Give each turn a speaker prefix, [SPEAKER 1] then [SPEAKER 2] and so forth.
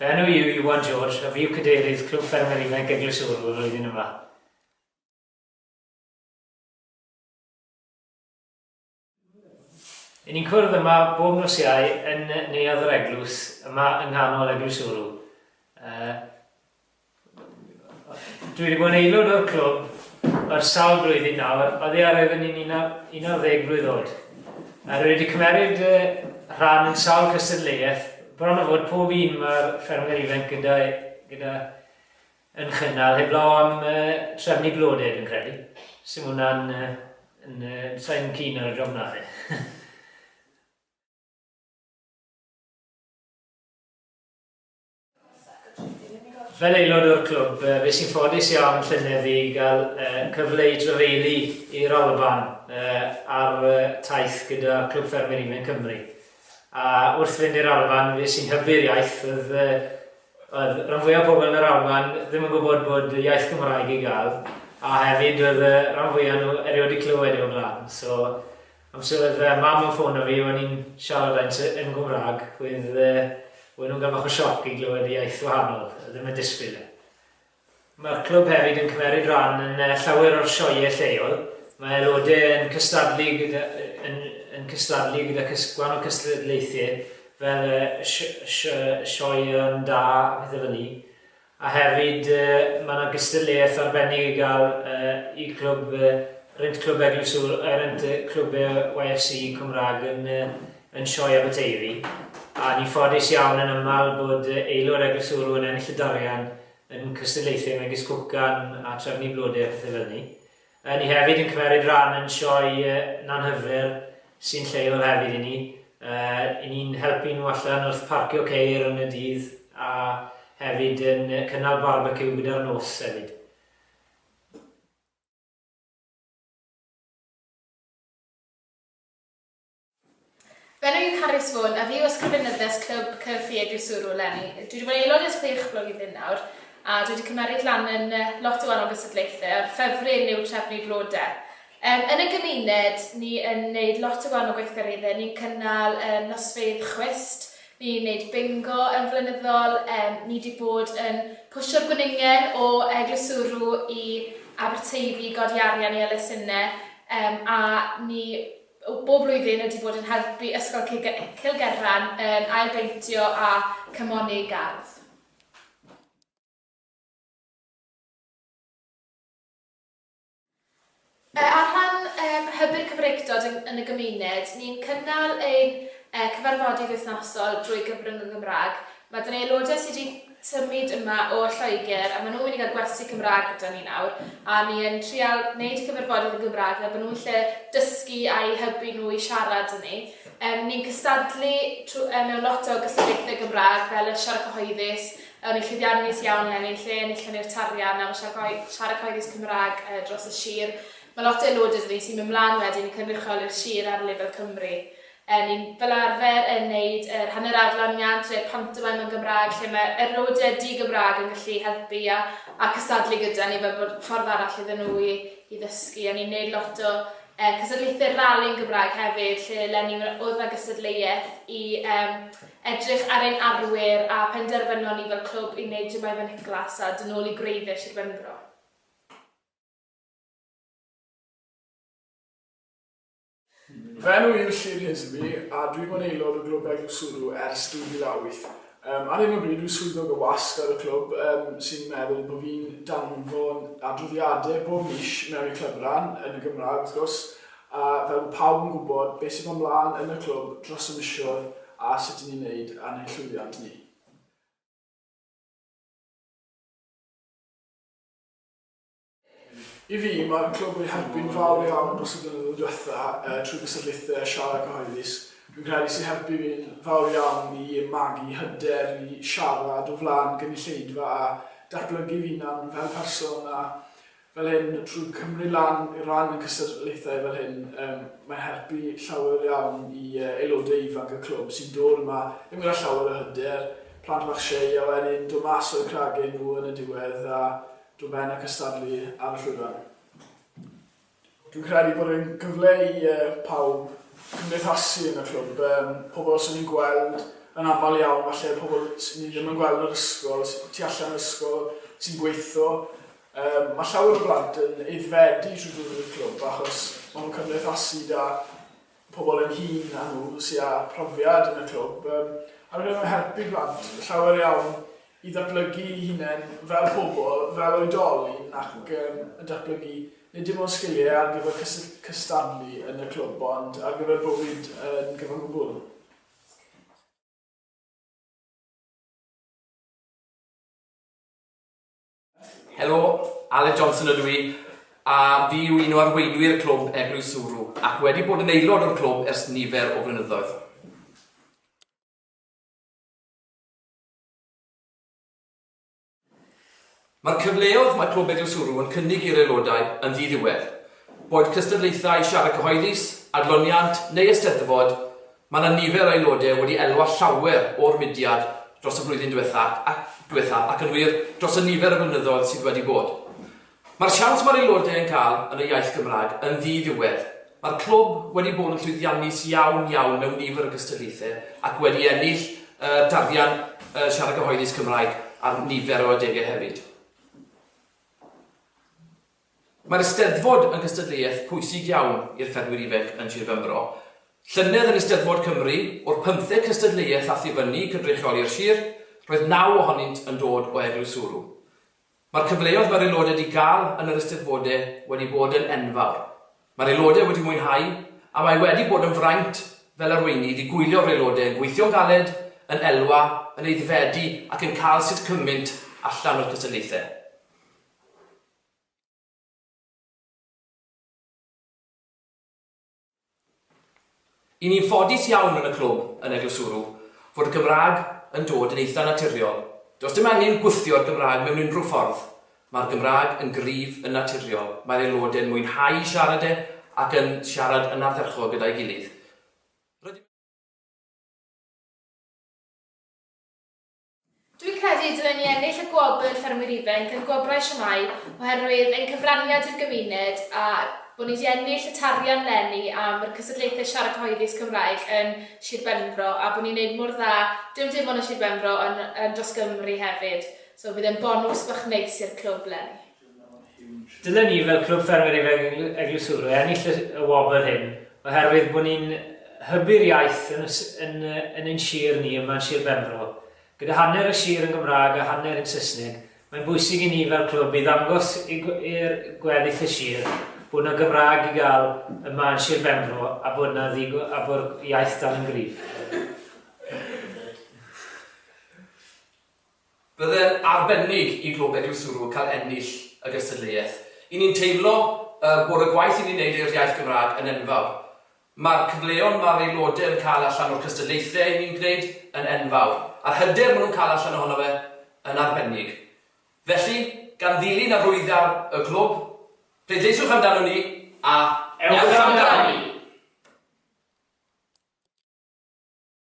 [SPEAKER 1] Fy enw i yw Iwan George a fi yw cadeirydd Clwb Ffermwyr Ifanc Eglwys Ŵyl y flwyddyn yma. Yn ni'n cwrdd yma bob nos Iau yn neuadd yr eglwys, yma yng nghanol eglwys Uru. Uh, dwi wedi bod yn aelod o'r clwb yr sawl blwyddyn nawr, oedd e ar oeddwn i'n 11 blwydd oed. A rwy wedi cymeryd uh, rhan yn sawl cystadleuaeth, bron o fod pob un mae'r ffermwyr ifanc gyda, gyda Yn chynnal heblaw am trefnu blodau dwi'n credu. Sim hwnna'n... Sai'n keen ar y job na fi. Fel aelod o'r clwb, fes i'n ffodus iawn llynedd i gael cyfle i drafeilu i'r Alban ar taith gyda Clwb Ffermwyr Ifanc Cymru. A wrth fynd i'r Alban fes i'n hybu'r iaith oedd Oedd rhan fwyaf o bobl yn yr Alban ddim yn gwybod bod y iaith Gymraeg i gael, a hefyd oedd y rhan fwyaf nhw erioed wedi clywed e o'r blaen. So, amser oedd yy mam yn ffôn 'na fi o'n i'n siarad â un yn Gymraeg, oedd yy, oedden nhw'n cael bach o sioc i glywed y iaith wahanol, ddim yn disgwyl e. Mae'r clwb hefyd yn cymeryd ran yn llawer o'r sioeau lleol. Mae aelodau yn cystadlu gyda, yn, yn cystadlu gyda cys, gwan o cystadlaethau fel y si, si, Sioeau'n Da a pethau fel ni. A hefyd yy mae 'na gystadleuaeth arbennig i gael yy i clwb yy Rent Clwb Eglwys Iŵr, yy Rent Clwb yy YFC Cymraeg yn yy yn Sioe Aberteifi, a ni'n ffodus iawn yn aml bod aelod a glysurw yn ennill y dorian yn cystadlaethau megis cwcan a trefnu blode a phethe fel 'ny. Yy ni hefyd yn cymeryd ran yn Sioe Nanhyfer sy'n lleol hefyd i ni, yy 'yn ni'n helpu nhw allan wrth parcio ceir yn y dydd a hefyd yn cynnal barbeciw gyda'r nos hefyd.
[SPEAKER 2] Fy enw yw Carys Vaughan a fi yw Ysgrifenyddes Clwb Cyffi Eglwyswrw eleni. Dwi wedi bod yn aelod ers chwech blwyddyn nawr a dwi wedi cymeryd lan yn lot o wahanol gystadlaethau a'r ffefryn yw trefnu blodau. Um, yn y gymuned, ni yn gwneud lot o wahanol gweithgareddau. Ni'n cynnal um, nosfeydd chwist, ni'n gwneud bingo yn flynyddol, um, ni wedi bod yn pwysio'r gwningen o Eglwyswrw i Aberteifi, godi arian i elusennau, um, a ni bob blwyddyn wedi bod yn helpu Ysgol Cilgerran yn ailbeintio a chymoni ei gardd. Ar rhan um, hybu'r Cymreictod yn, yn y gymuned, ni'n cynnal ein uh, cyfarfodydd wythnosol drwy gyfrwng y Gymraeg Mae dau aelodau sydd wedi symud yma o Lloegr a maen nhw'n mynd i gael gwersi Cymraeg gyda ni nawr a ni yn trial wneud y cyfarfodydd yn Gymraeg fel bod nhw'n lle dysgu a'u hybu nhw i siarad â ni. Yym ni'n cystadlu trw- yy mewn lot o gystadlaethau Gymraeg fel y Siarad Cyhoeddus, o'n i'n llwyddiannus iawn eleni lle enillon ni'r tarian am y Siarad Cyhoe- Siarad Cyhoeddus Cymraeg yy dros y sir. Mae lot o aelodau 'da ni sy'n mynd mlaen wedyn i cynrychioli'r sir ar lefel Cymru. Er ni fel arfer yn neud yr hanner adloniant neu'r pantomaim yn Gymraeg lle mae yr nodiau di-Gymraeg yn gallu helpu a a cystadlu gyda ni fel bod ffordd arall iddyn nhw i i ddysgu a ni'n neud lot o yy cystadlaethau rali yn Gymraeg hefyd lle len ni wna- oedd na gystadleuaeth i yym edrych ar ein arwyr a penderfynon ni fel clwb i neud Jemima Nicholas a dyn nôl i gwreiddiau Sir Benfro.
[SPEAKER 3] Fy enw yw Llŷr Hizby a dwi wedi bod yn aelod o Glwb Egin Suru ers 2008. Yym, ar hyn o bryd dwi'n swyddog y wasg ar y clwb yym sy'n meddwl bod fi'n danfon adroddiadau bob mis mewn i'r clybran, yn y Gymraeg wrth gwrs, a fel bod pawb yn gwybod beth sy'n bod mlaen yn y clwb dros y misoedd a sut i ni'n wneud ar ein llwyddiant ni. I fi, mae'r clwb wedi helpu'n fawr iawn dros y blynyddoedd diwetha' trwy gystadlaethau a siarad cyhoeddus. Dwi'n credu sy'n helpu fi'n fawr iawn i magu hyder i siarad o flaen gynulleidfa a datblygu fy hunan fel person a fel hyn trwy cymryd lan i ran yn cystadlaethau fel hyn mae'n helpu llawer iawn i aelodau ifanc y clwb sy'n dod yma ddim gyda llawer o hyder, plant bach shei a wedyn dod mas o'u cragen nhw yn y diwedd a Dw ben a cystadlu ar y llwyfan. Dwi'n credu bod yn gyfle i uh, pawb cymdeithasu yn y clwb. Um, pobl sy'n ni'n gweld yn aml iawn, falle pobl sy'n ni ddim yn gweld yn yr ysgol, tu allan yr ysgol, sy'n gweithio. Um, mae llawer o blant yn eiddfedu trwy ddod i'r clwb achos maen nhw'n cymdeithasu da pobl ein hun a nhw sy â phrofiad yn y clwb, yym, ar gyfer helpu plant llawer iawn i ddatblygu'i hunain fel pobl, fel oedolyn ac yn datblygu nid dim ond sgiliau ar gyfer cysy- cystadlu yn y clwb ond ar gyfer bywyd yn gyfan gwbl.
[SPEAKER 4] Helo, Aled Johnson ydw i, a fi yw un o arweinwyr clwb Eglwys Suru, ac wedi bod yn aelod o'r clwb ers nifer o flynyddoedd. Mae'r cyfleoedd mae Clwb Eglwys Suru yn cynnig i'r aelodau yn ddiddiwedd, boed cystadlaethau siarad cyhoeddus, adloniant neu ysteddfod, Mae yna nifer o aelodau wedi elwa llawer o'r mudiad dros y flwyddyn diwethaf ac yn wir, dros y nifer o flynyddoedd sydd wedi bod. Mae'r siawns mae'r aelodau yn cael yn y iaith Gymraeg yn ddi-ddiwedd. Mae'r clwb wedi bod yn llwyddiannus iawn, iawn mewn nifer o gystadlaethau ac wedi ennill y darian Siarad Cyhoeddus Cymraeg ar nifer o adegau hefyd. Mae'r Eisteddfod yn gystadleuaeth pwysig iawn i'r ffermwyr ifainc yn Sir Benfro. Llynedd yn Eisteddfod Cymru, o'r pymtheg cystadleuaeth a thifynnu cynrychioli'r sir, roedd naw ohonynt yn dod o Eglwys Sŵrw. Mae'r cyfleoedd mae'r aelodau 'di gael yn yr Eisteddfodau wedi bod yn enfawr. Mae'r aelodau wedi mwynhau a mae wedi bod yn fraint fel arweinydd i gwylio'r aelodau yn gweithio'n galed, yn elwa, yn aeddfedu ac yn cael sut cymynt allan o'r cystadlaethau. Y ni'n ffodus iawn yn y clwb, yn eglwysuru, fod y Gymraeg yn dod yn eitha' naturiol. Does dim angen gwthio'r Gymraeg mewn unrhyw ffordd. Mae'r Gymraeg yn gryf yn naturiol, mae'r aelodau'n mwynhau siarad e ac yn siarad yn ardderchog gyda'i gilydd. Rydym yn
[SPEAKER 2] Dwi'n credu y dylen ni ennill y Gwobr Ffermwyr Ifainc yn Gwobrau Siamai oherwydd ein cyfraniad i'r gymuned a bod ni 'di ennill y tarian 'leni am yr cystadlaethau siarad cyhoeddus Cymraeg yn Sir Benfro a bod ni'n neud mor dda dim dim ond yn Sir Benfro yn yn dros Gymru hefyd so bydd e'n bonws bach neis i'r clwb 'leni. Dylen
[SPEAKER 1] ni fel Clwb Ffermwyr Ifanc Eglwyswrw ennill y y wobr hyn oherwydd bod ni'n hybu'r iaith yn y s- yn y yn ein sir ni yma yn Sir Benfro. Gyda hanner y sir yn Gymraeg a hanner yn Saesneg, mae'n bwysig i ni fel clwb i ddangos i gw- i'r gweddill y sir bod 'na Gymraeg i gael yma yn Sir Benfro a bod 'na ddigo- a bod iaith dal yn gryf.
[SPEAKER 4] Byddai'n arbennig i Glwb Eglwyswrw cael ennill y gystadleuaeth. I ni'n teimlo bod y gwaith i ni'n neud i'r iaith Gymraeg yn enfawr. Mae'r cyfleon mae'r aelodau yn cael allan o'r cystadlaethau i ni'n gwneud yn enfawr, a'r hyder maen nhw'n cael allan ohono fe yn arbennig. Felly, gan ddilyn arwyddion y Clwb, pleidleisiwch amdanon ni a Ewch Amdani!